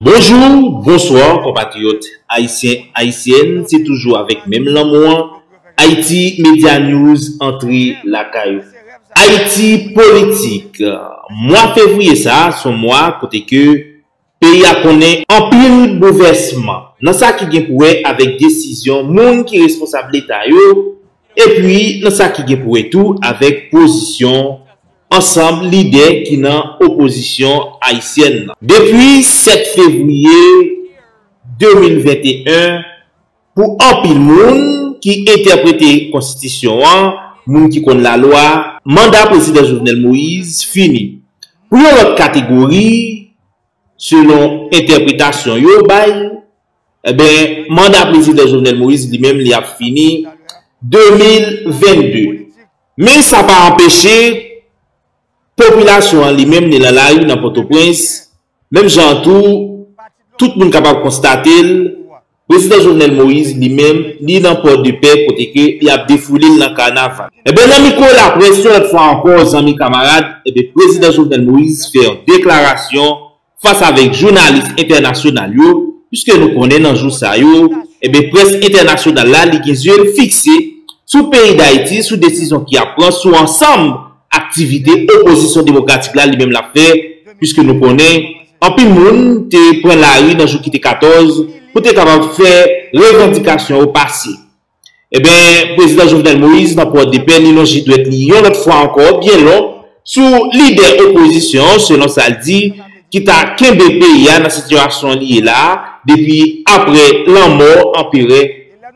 Bonjour, bonsoir konpatriyòt Ayisyen, Ayisyèn se toujou avèk menm lanmou an Haiti Media News antre lakay ou. Ayiti Politik, Mwa fevriye sa son mwa kote ke peyi a konnen anpil bouvèsman nan sa ki gen pou wè avèk desizyon moun ki responsab leta yo Epi nan sa ki gen pou wè tou avèk pozisyon ansanm lidè ki nan opozisyon ayisyèn nan. Depi 7 fevriye 2021, pou anpil moun ki entèprete konstitisyon an, moun ki konn lalwa, manda Prezidan Jovenel Moïse fini. Pou yon lòt kategori, selon entèpretasyon yo bay, Enben, manda Prezidan Jovenel Moïse li menm li ap fini 2022. Men sa pa anpeche popilasyon an li menm li nan lari nan Pòtoprens, menm jan an tou tout moun kapab konstate l, Prezidan Jovenel Moïse li menm li nan Pòdepè kote ke y ap defoule l nan kanaval. Enben, nan mikwo laprès yon lòt fwa ankò zanmi kamarad, enben Prezidan Jovenel Moïse fè yon deklarasyon, fas avèk jounalis entènasyonal yo, pwiske nou konnen nan jou sa yo, enben près entènasyonal la li gen zye l fikse sou peyi Dayiti, sou desizyon ki ap pran, sou ansanm aktivite opozisyon demokratik la li menm l ap fè, pwiske nou konnen anpil moun te pran lari nan jou ki te 14 pou te kapab fè revandikasyon yo pase. Enben, Prezidan Jovenel Moïse nan Pòdepè li lonje dwèt li yon lòt fwa ankò byen lon sou lidè opozisyon an selon sa l di ki ta kenbe peyi a nan sitiyasyon li ye la a depi aprè lanmò Anperè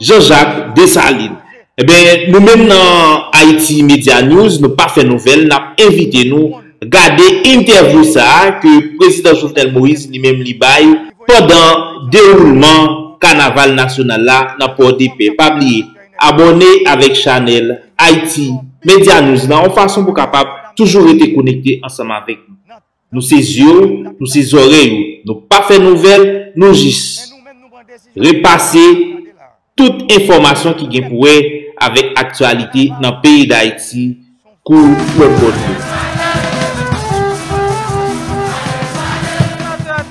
Jean Jacques Dessalines. Enben, nou menm nan Haïti Media News nou pa fè nouvèl n ap envite nou Gade entèvyou sa ke Prezidan Jovenel Moïse li menm li bay pandan dewoulman kanaval nasyonal la nan Pòdepè. Pa bliye abòne avèk chanèl Haiti Media News la yon fason pou kapab toujou rete konekte ansanm avèk nou. Nou se zye w, nou se zòrèy ou. Nou pa fè nouvèl, nou jis repase. Tout enfòmasyon ki gen pou wè avèk aktyalite nan peyi Dayiti kou lòt bò dlo.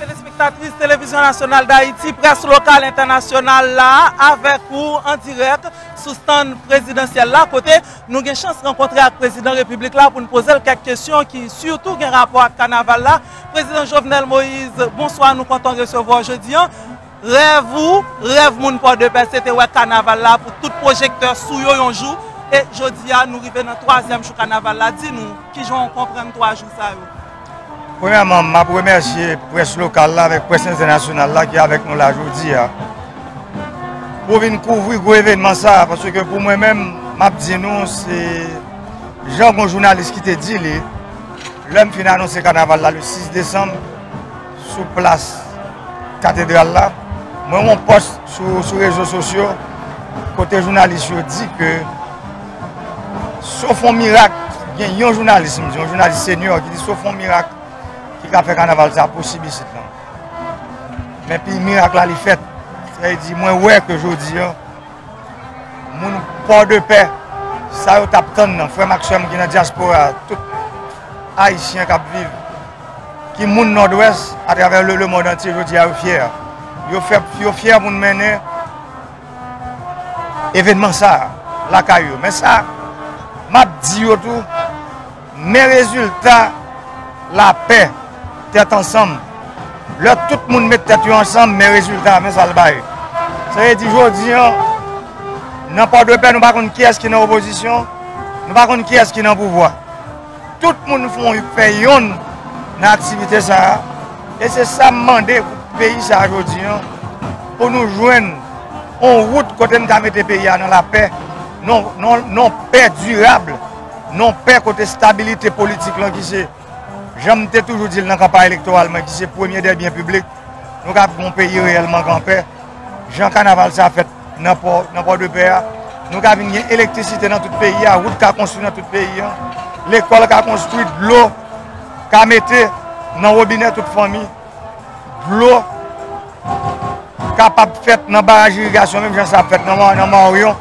Telespectatè, telespektatris Televizyon Nasyonal Dayiti, près lokal, entènasyonal la avèk ou an dirèk sou stand prezidansyèl la kote nou gen chans rankontre ak prezidan repiblik la pou n poze l kèk kesyon ki sitou gen rapò ak kanaval la. Prezidan Jovenel Moïse, bonswa nou kontan resevwa w jodi an. Rèv ou, rèv moun Pòdepè se te wè kanaval la pou tout pwojektè sou yo yon jou e jodi a nou rive nan twazyèm jou kanaval la, di nou kijan w konprann twa jou sa yo? Premyèman, m ap remèsye près lokal la avèk près entènasyonal la ki avèk nou la jodi a pou vin kouvri gwo evènman sa a paske pou mwen menm m ap di nou se jan gon jounalis ki te di li lè m fin anonse kanaval la le 6 desanm. sou plas katedral la, mwen wè yon pòs sou rezo sosyo kote jounalis yo di ke sof yon mirak gen yon jounalis, m di yon jounalis senior ki di sof yon mirak ki ka fè kanaval sa posib isit lan. Men pi mirak la li fèt. Sa e di mwen wè ke jodi an moun port de paix sa yo tap tann nan frèm ak sèm ki nan diaspora tout ayisyen kap viv ki moun nòdwès atravè le le mond antye jodi a yo fyè yo fè yo fyè moun mennen evenman sa lakay yo men sa map di yo tou Men rezilta lapè, tèt ansanm. Lè tout moun met tèt yo ansanm, men rezilta, men sa l bay. Sa vle di jodi an, nan Pòdepè nou pa konn kiyès ki nan opozisyon, nou pa konn kiyès ki nan pouvwa. Tout moun fè yonn nan aktivite sa a. E se sa m mande pou peyi sa a jodi an, pou nou jwenn yon wout kote n ka mete peyi a nan lapè, nan yon pè dirab. Non pè kote stabilite politik lan ki se, jan m te toujou di l nan kanpay elektoral mwen, ki se premye dè byen piblik, nou kab gen yon peyi reyèlman kan pè. Jan kanaval sa fèt nan pò, nan Pòdepè a, nou ka vin gen elektrisite nan tout peyi a, wout ka konstwi nan tout peyi a, lekòl ka konstwi, dlo ka mete nan wobinè tout fanmi. dlo kapab fèt nan baraj irigasyon menm jan sa ap fèt nan Mawoyon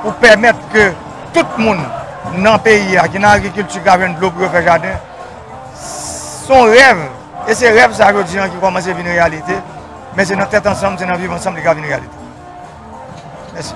pou pèmèt ke tout moun nan peyi a ki nan agrikilti ka jwenn dlo pou yo fè jaden. Son rèv, e se rèv sa yo diyan ki kòmanse vin reyalite, men se nan tèt ansanm, se nan viv ansanm li ka vin reyalite. Mèsi.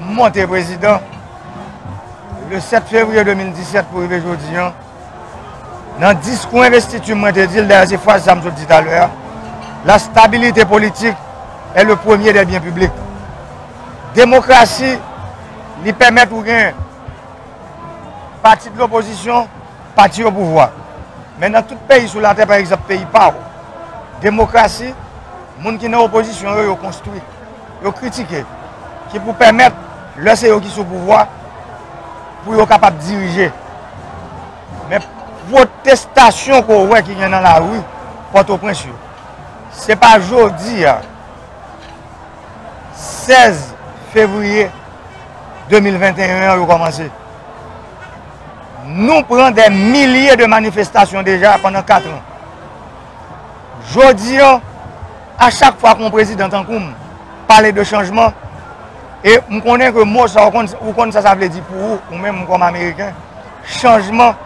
M monte prezidan le 7 fevriye 2017 pou rive jodi an. Nan diskou envestiti m mwen te di l, dayè se fraz sa m sot di talè a, la stabilite politik è le premye dè byen piblik. Demokrasi li pèmèt ou gen pati de lopozisyon, pati o pouvwa. Men nan tout peyi sou latè pa egzanp peyi pa w, demokrasi moun ki nan opozisyon yo yo konstwi. yo kritike, ki pou pèmèt lè se yo ki sou pouvwa pou yo kapab dirije. Men pwotestasyon ke w wè ki gen nan lari Pòtoprens yo, se pa jodi a 16 fevriye 2021 an yo kòmanse. Nou pran dè milye de manifestasyon deja pandan 4 an. Jodi an, A chak fwa kon prezidan tankou m pale de chanjman, e m konnen ke mo sa ou konn sa sa vle di pou ou, ou menm kòm ameriken, chanjman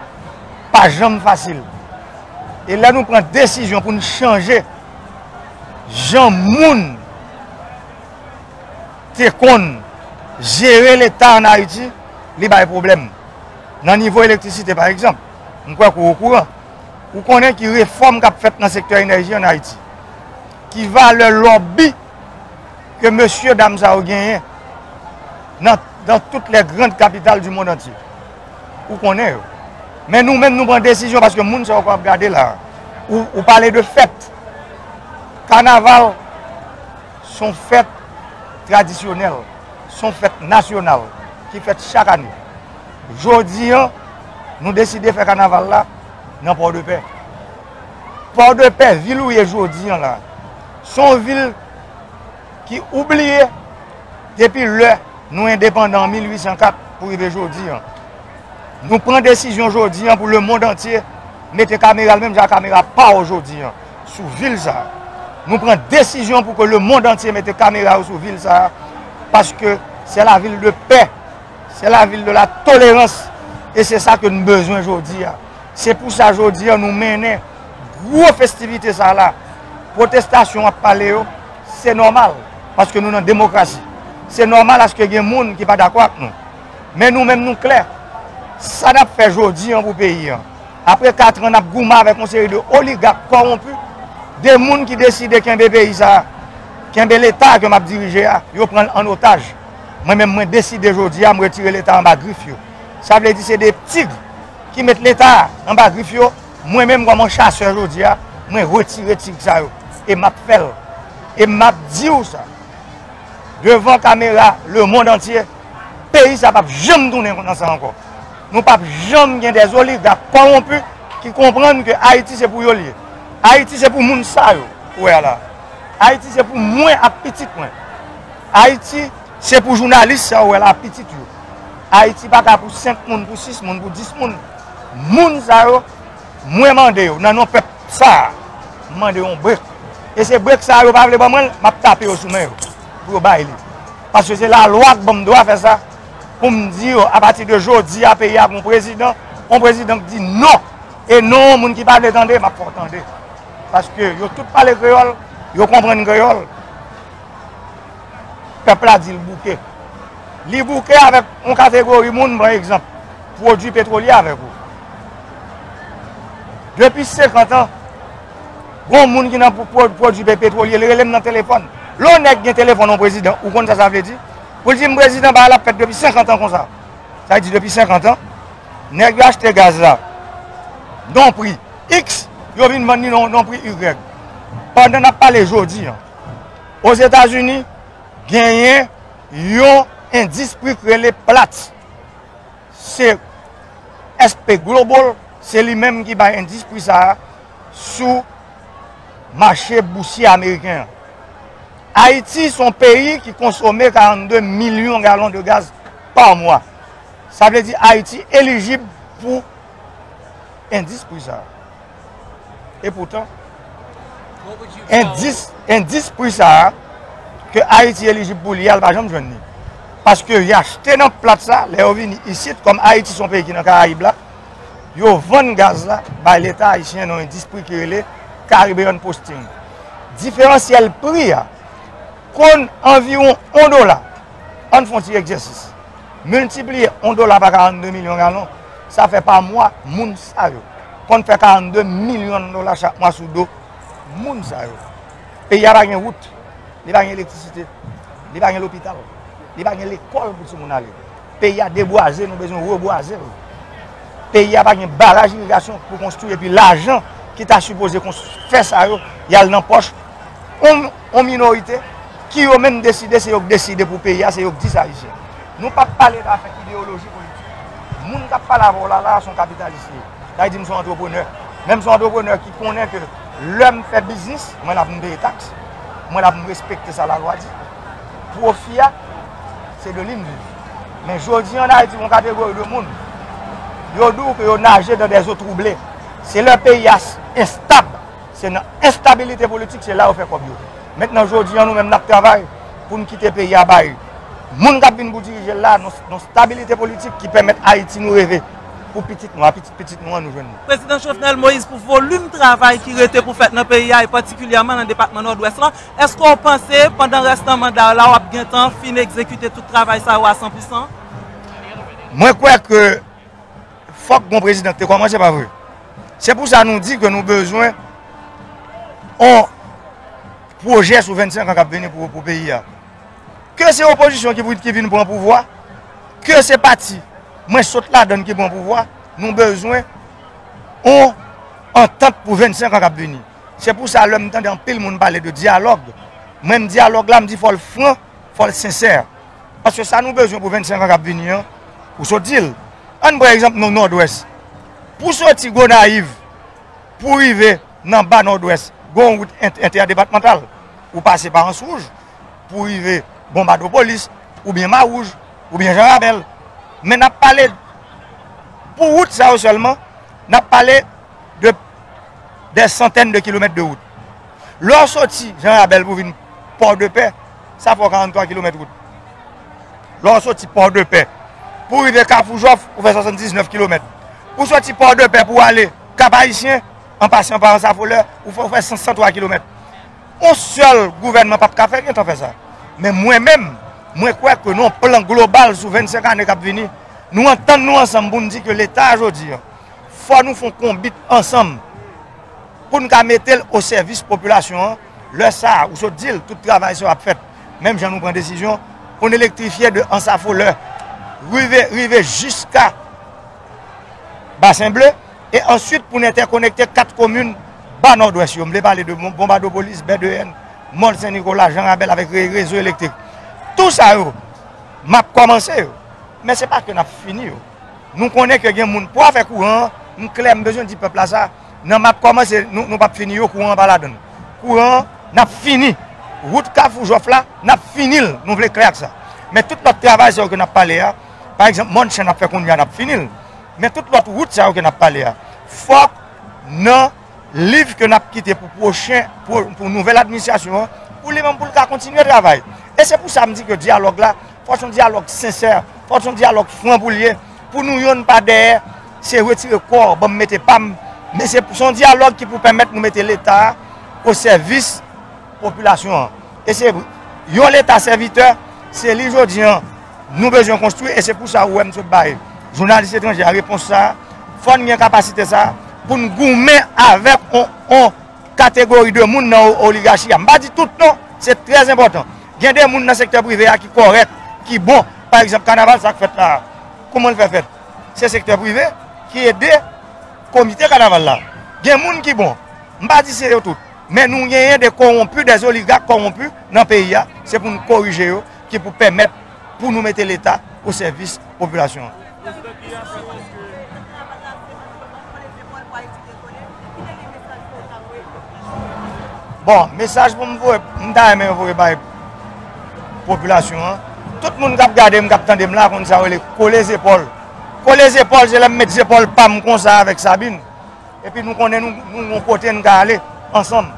pa janm fasil. E lè nou pran desizyon pou n chanje jan moun te konn jere leta an Ayiti, li bay pwoblèm. Nan nivo elektrisite pa egzanp, m kwè ke ou okouran. Ou konnen ki refòm k ap fèt nan sektè enèji an Ayiti? Ki valè lòbi ke mesye dam sa yo genyen nan tout lè grand kapital di mond antye? Ou konnen yo. Men nou menm nou pran desizyon paske moun sa yo k ap gade la. Ou pale de fèt. Kanaval son fèt tradisyonèl. Son fèt nasyonal ki fèt chak ane. Jodi an, nou deside fè kanaval la nan Pòdepè. Pòdepè, vil ou ye jodi an la, se yon vil ki oubliye depi lè nou endepandan an 1804 pou rive jodi an. Nou pran desizyon jodi an pou lemond antye mete kamera l menm jan ak kamera pa w jodi an sou vil sa a. Nou pran desizyon pou ke lemond antye mete kamera yo sou vil sa a paske se lavil de pè. Se la vil de la tolerans e se sa ke nou bezwen jodi a. Se pou sa jodi a nou mennen gwo festivite sa la. Pwotestasyon ap pale yo, se nòmal paske nou nan demokrasi. Se nòmal aske gen moun ki pa dakò ak nou. Men nou menm nou klè, sa nap fè jodi an pou peyi an. Apre 4 an nap gouman avèk yon seri de oligak kowonpi, de moun ki deside kenbe peyi sa, kenbe leta ke map dirije a, yo pranl an otaj. Mwen menm mwen deside jodi a m retire leta anba grif yo. Sa vle di se 2 tigre ki met leta anba grif yo, mwen menm kòm yon chasè jodi a mwen retire tigre sa yo e map fè l e map diw sa devan kamera le mond antye peyi sa pap janm tounen nan sa ankò. Nou pap janm gen 2 oligak kòwonpi ki konprann ke Ayiti se pou yo l ye. Ayiti se pou moun sa yo ou wè a la. Ayiti se pou mwen ak pitit mwen. Ayiti se pou jounalis sa ou wè la pitit yo. Ayiti pa ka pou 5 moun, pou 6 moun, pou 10 moun. Moun sa yo, mwen mande yo nan non pèp sa a, m mande yon brek. E se brek sa a yo pa vle ban mwen l, m ap tape yo sou men yo pou yo bay li. Paske se lalwa k ban m dwa fè sa pou m di yo apati de jodi a peyi a gen yon prezidan, yon prezidan k di non. E non an moun ki pa vle tande, m ap fè w tande. Paske yo tout pale kreyòl, yo konprann kreyòl. pèp la di l bouke. Li bouke avèk yon kategori moun, m pran egzanp, pwodui petwolye avèk ou. Depi 50 an, yon moun ki nan pwodui petwolye, li rele m nan telefòn. Lè yon nèg gen telefòn yon prezidan, ou konn sa sa vle di? Pou l di m prezidan bagay la ap fèt depi 50 an konsa. Sa vle di depi 50 an, nèg yo achte gaz la nan yon pri X, yo vin vann li nan yon pri Y. Pandan n ap pale jodi an. Ozetazini, genyen yon endis pri k rele Platts. Se S P Global, se li menm ki bay endis pri sa a sou mache bousye ameriken an. Ayiti se yon peyi ki konsome 42 milyon galon de gaz pa mwa. Sa vle di Ayiti elijib pou endis pri sa a. E poutan, endis pri sa a, ke Ayiti elijib pou li a, l pa janm jwenn li. Paske y achte nan plat sa, lè yo vini isit, kòm Ayiti son peyi ki nan Karayib la, yo vann gaz la bay leta ayisyen nan endis pri ki rele Caribbean Posting. Diferansyèl pri a konn anviwon 1 dola. Ann fon ti egzèsis. Miltipliye 1 dola pa 42 milyon galon, sa fè pa mwa moun sa yo konn fè 42 milyon dola chak mwa sou do moun sa yo. Peyi a pa gen wout, li pa gen elektrisite, li pa gen lopital, li pa gen lekòl pou ti moun ale. Peyi a debwaze, nou bezwen rebwaze l. Peyi a pa gen baraj irigasyon pou konstwi epi lajan ki ta sipoze fè sa yo, y al nan pòch. yon minorite ki yo menm deside se yo k deside pou peyi a se yo k di sa Ayisyen nou pap pale da fè ideoloji politik moun kap pale avè w la la son kapitalis li ye sa di m son antreprenè menm son antreprenè ki konnen ke lè m fè biznis mwen la pou m peye taks mwen la pou m respekte sa la lwa di pwofi a se de li m viv men jodi an Ayiti yon kategori de moun yo di w ke yo naje dan de zo trouble se lè peyi a estab Se nan enstabilite politik se la yo fè kòb yo. Mentnan jodi an nou menm nap travay poun kite peyi a bay moun kap vin pou dirije l la nan stabilite politik ki pèmèt Ayiti nou reve pou pitit nou a pitit pitit nou an nou jwenn. Prezidan Jovenel Moïse pou volim travay ki rete pou fèt nan peyi a e patikilyèman nan depatman Nòdwès lan, èske w panse pandan rès nan manda w la wap gentan fin egzekite tout travay sa yo a san pou san? Mwen kwè ke. Fok bon president te komanse pa vre. Se pou sa nou di ke nou bezwen on proje sou 25 an kap vini pou peyi a. Ke se opozisyon ki vin pran pouvwa, ke se pati mwen sot la dan ki pran pouvwa, nou bezwen on antant pou 25 an kap vini. Se pou sa lèm tande anpil moun pale de dialog, menm dialog la m di fol fran. fò l sensè. Paske sa nou bezwen pou 25 an k ap vini an, ou sot di l. An n pran egzanp nou Nòdwès. Pou soti Gonayiv pou w rive nan ba Nòdwès, gen yon wout entèdepatmantal. Ou pase pa Answouj pou w rive Bonbadopolis, oubyen Mawouj, oubyen Janrabèl. Men n ap pale pou wout sa yo sèlman, n ap pale. de dè santèn de kilomèt de wout. Lè w soti Jan Rabèl pou vin Pòdepè, sa fè w 43 kilomèt wout. Lè w soti Pòdepè pou rive Kafou Jòf, ou fè 79 kilomèt. Ou soti Pòdepè pou ale Kap Ayisyen, an pasyan pa Ansafolè, ou fè ou fè 103 kilomèt. On sèl gouvènman pap ka fè, gen tan fè sa. Men mwen menm, mwen kwè ke nou plan global sou 25 ane kap vini, nou antann nou ansanm pou n di ke Leta jodi an, fò nou fon konbit ansanm pou n ka mete l o sèvis popilasyon an, lè sa a ou sot di l tout travay sa yo ap fèt menm jan nou pran desizyon pou n elektrifye de Ansafolè rive rive jiska Basen Ble e answit pou n entèkonekte 4 komin Ba Nòdwès yo, m vle pale de Bonbadopolis, Bèdeyèn, Mòl Sen Nikola, Jan Rabèl avèk rezo elektrik tou sa yo m ap kòmanse yo men se pa ke n ap fini yo. Nou konnen ke gen moun pou afè kouran an, m klè m bezwen di pèp la sa, nan map kòmanse nou pap fini yo kouran an pa ladann. Kouran an nap fini, wout kafou jòf la nap fini l nou vle klè ak sa. Men tout lòt travay sa yo ke nap pale a, pa egzanp mòn chen nap fè kounya nap fini l, men tout lòt wout sa yo ke nap pale a fòk nan liv ke nap kite pou pwochen pou nouvèl administrasyon an pou li menm pou l ka kontinye travay. E se pou sa m di ke dyalòg la. fòk son dyalòg sensè, fòk son dyalòg fran pou l ye, pou nou yonn pa dèyè, se retire kò w banm mete pa m, men se son dyalòg ki pou pèmèt nou mete leta a o sèvis popilasyon an. E se yon leta sèvitè, se li jodi an nou bezwen konstwi, e se pou sa ou wè m sot bay jounalis etranje a repons sa a, fòn gen kapasite sa a pou n goumen avèk on. Kategori de moun nan oligachi a. M pa di tout non, se trè enpòtan. Gen de moun nan sektè prive a ki kòrèk, ki bon. Pa egzanp, kanaval sa k fèt la a, kouman l fè fèt? Se sektè prive ki ede komite kanaval la. Gen moun ki bon. M pa di se yo tout. Men nou genyen de kowonpi, de oligak kowonpi nan peyi a. Se pou n korije yo ki pou pèmèt. pou nou mete leta o sèvis popilasyon an. Prezidan ki a fèt eske. Bon, mesaj pou m voye, m ta renmen yo voye bay popilasyon an. Tout moun kap gade m, kap tande m la konn sa yo rele kole zepòl. Kole zepòl se lè m met zepòl pa m konsa avèk Sabin. Epi nou konnen nou yon kote nou ka ale ansanm.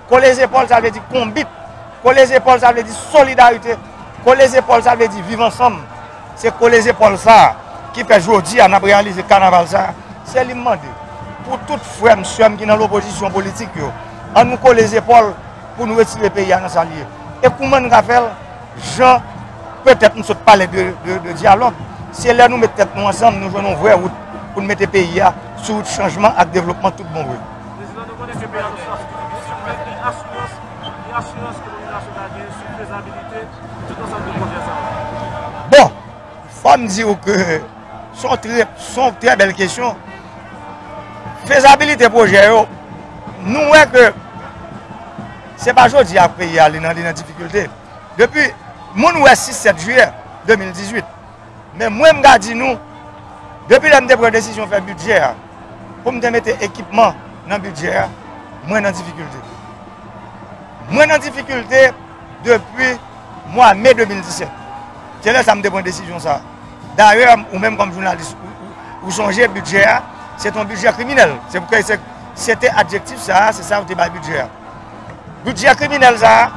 Kole zepòl sa vle di konbit. Kole zepòl sa vle di solidarite. Kole zepòl sa vle di viv ansanm. Se kole zepòl sa ki fè jodi a nap reyalize kanaval sa. Se li m mande pou tout frè m, sè m ki nan lopozisyon politik yo. An nou kole zepòl pou nou retire peyi a nan sa li ye. E kouman nou ka fè l? Jan petèt nou sot pale de dyalòg, se lè nou met tèt nou ansanm nou jwenn yon vrè wout pou nou mete peyi a sou wout chanjman ak devlopman tout bon vre. Prezidan, nou konnen ke peyi a nan sitiyasyon ki difisil, men ki asirans, ki asirans ke popilasyon ka gen sou fezabilite tout ansanm de pwojè sa yo? Bon, fò m di ou ke son trè, son trè bèl kesyon. Fezabilite pwojè yo, nou wè ke. Se pa jodi a peyi a li nan li nan difikilte depi moun wè 6 7 jiyè 2018 men mwen m ga di nou depi lè m te pran desizyon fè bidjè a pou m te mete ekipman nan bidjè a mwen nan difikilte mwen nan difikilte depi mwa me 2017 se lè sa m te pran desizyon sa darè ou menm kòm jounalis ou sonje bidjè a se ton bidjè kriminèl se pou kè se te adjektif sa se sa ou te bay bidjè a. Budget kriminèl sa a,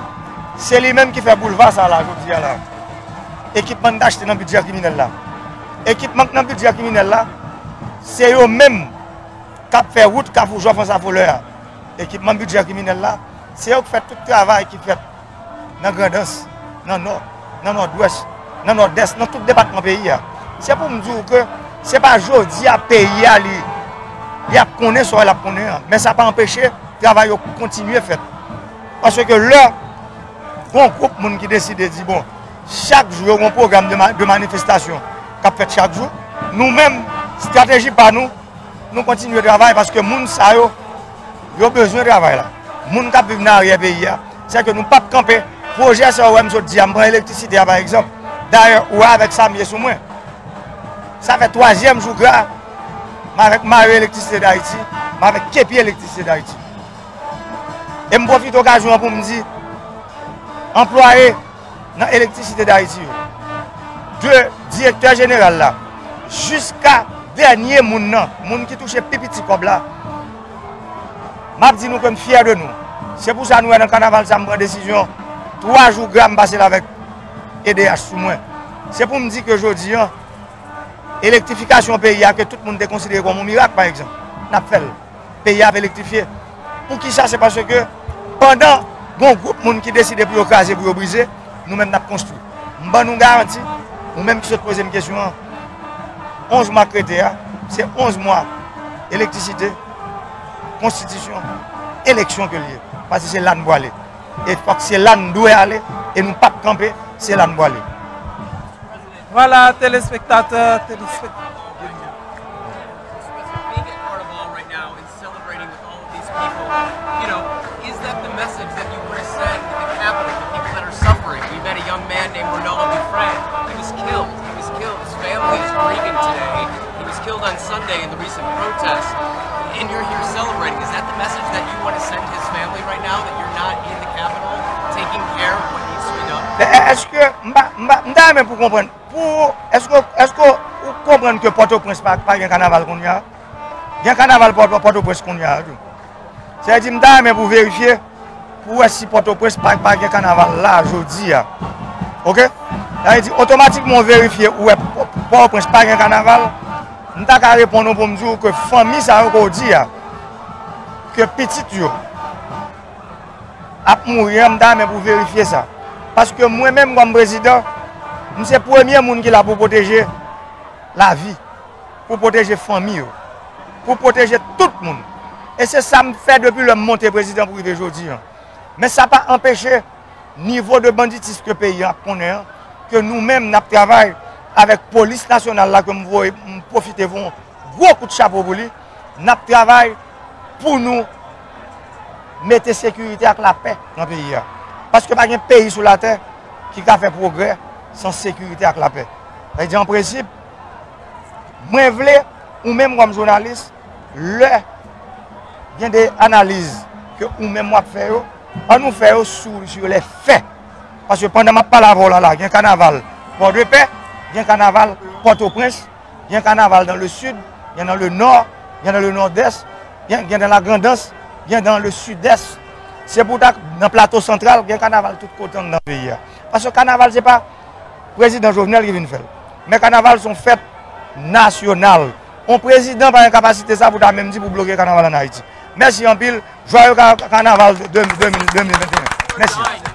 se li menm ki fè boulva sa la jodi a la. Ekipman n t achte nan budget kriminèl la. Ekipman k nan budget kriminèl la, se yo menm k ap fè wout Kafou Jòf Ansavolè a. Ekipman budget kriminèl la, se yo k fè tout travay ki fèt. nan Grandans, nan Nò, nan Nòdwès, nan Nòdès, nan tout depatman peyi a. Se pou m di ou ke se pa jodi a peyi a li ap konnen sa li ap konnen an. Men sa pa anpeche travay yo kontinye fèt. Pase ke lè yon gwoup moun ki deside di bon, chak jou yo yon pwogram de manifestasyon k ap fèt chak jou, nou menm strateji pa nou, nou kontinye travay paske moun sa yo, yo bezwen travay la. Moun k ap viv nan aryè peyi a. Se ke nou pap kanpe. Pwojè sa ou wè m sot di a, m pran elektrisite a pa egzanp. Dayè ou wè avèk Samie sou mwen. Sa fè twazyèm jou gra m avèk Mayo Elektrisite Dayiti, m avèk Kepi Elektrisite Dayiti. E m pwofite okazyon an pou m di, anplwaye nan Elektrisite Dayiti yo, de direktè jeneral la, jiska dènye moun nan, moun ki touche pi piti kòb la, Map di nou ke m fyè de nou. Se pou sa nou wè nan kanaval sa m pran desizyon 3 jou gra m pase l avèk edh sou mwen. Se pou m di ke jodi an, elektrifikasyon peyi a ke tout moun te konsidere kòm yon mirak pa egzanp, n ap fè l. Peyi a ap elektrifye. Pou ki sa? Se paske pandan gon gwoup moun ki deside pou yo kraze, pou yo brize, nou menm n ap konstwi. M ban nou garanti, ou menm ki sot poze m kesyon an, 11 mwa k rete a, se 11 mwa elektrisite, konstitisyon, eleksyon ke l ye. Pase se la n pwale. E fòk se la n dwe ale, e nou pap kanpe, se la n pwale. Vwala telespektatè, telespektatris. Eske m pa, m pa, m ta renmen pou w konprann, pou, eske w, eske w konprann ke Pòtoprens pa gen kanaval kounya? Gen kanaval Pòtoprens kounye a tou. Sa vle di m ta renmen pou verifye pou wè si Pòtoprens pa gen kanaval la jodi a. Ok? Sa vle di otomatikman ou verifye ou wè Pòtoprens pa gen kanaval, m ta ka reponn ou pou m di ou ke fanmi sa yo ke ou di a, ke pitit yo ap mouri an, m ta renmen pou w verifye sa. Paske mwen menm kòm prezidan, m se premye moun ki la pou pwoteje lavi. pou pwoteje fanmi yo, pou pwoteje tout moun. E se sa m fè depi lè m monte prezidan pou rive jodi an. Men sa pa anpeche nivo de banditism ke peyi an ap konnen an, ke nou menm n ap travay avèk polis nasyonal la ke m voye, m pwofite voye yon gwo kout chapo pou li, n ap travay pou nou mete sekirite ak lapè nan peyi a. Paske pa gen peyi sou latè ki ka fè pwogrè san sekirite ak lapè. Sa vle di an prensip. Mwen vle ou menm kòm jounalis lè gen de analiz ke ou menm wap fè yo, an nou fè yo sou lè fè. Paske pandan map pale avè w la la gen kanaval Pòdepè, gen kanaval Pòtoprens, gen kanaval dan le sid, gen dan le nò, gen dan le nòdès, gen dan la grandans, gen dan le sidès. Se pou ta nan plato santral gen kanaval tout kote nan peyi a. Paske kanaval se pa. prezidan Jovenel ki vin fèl. Men kanaval son fèt nasyonal. On prezidan pa gen kapasite sa pou ta menm di pou bloke kanaval an Ayiti. Mèsi anpil. Jwayo kanaval 2021. Mèsi.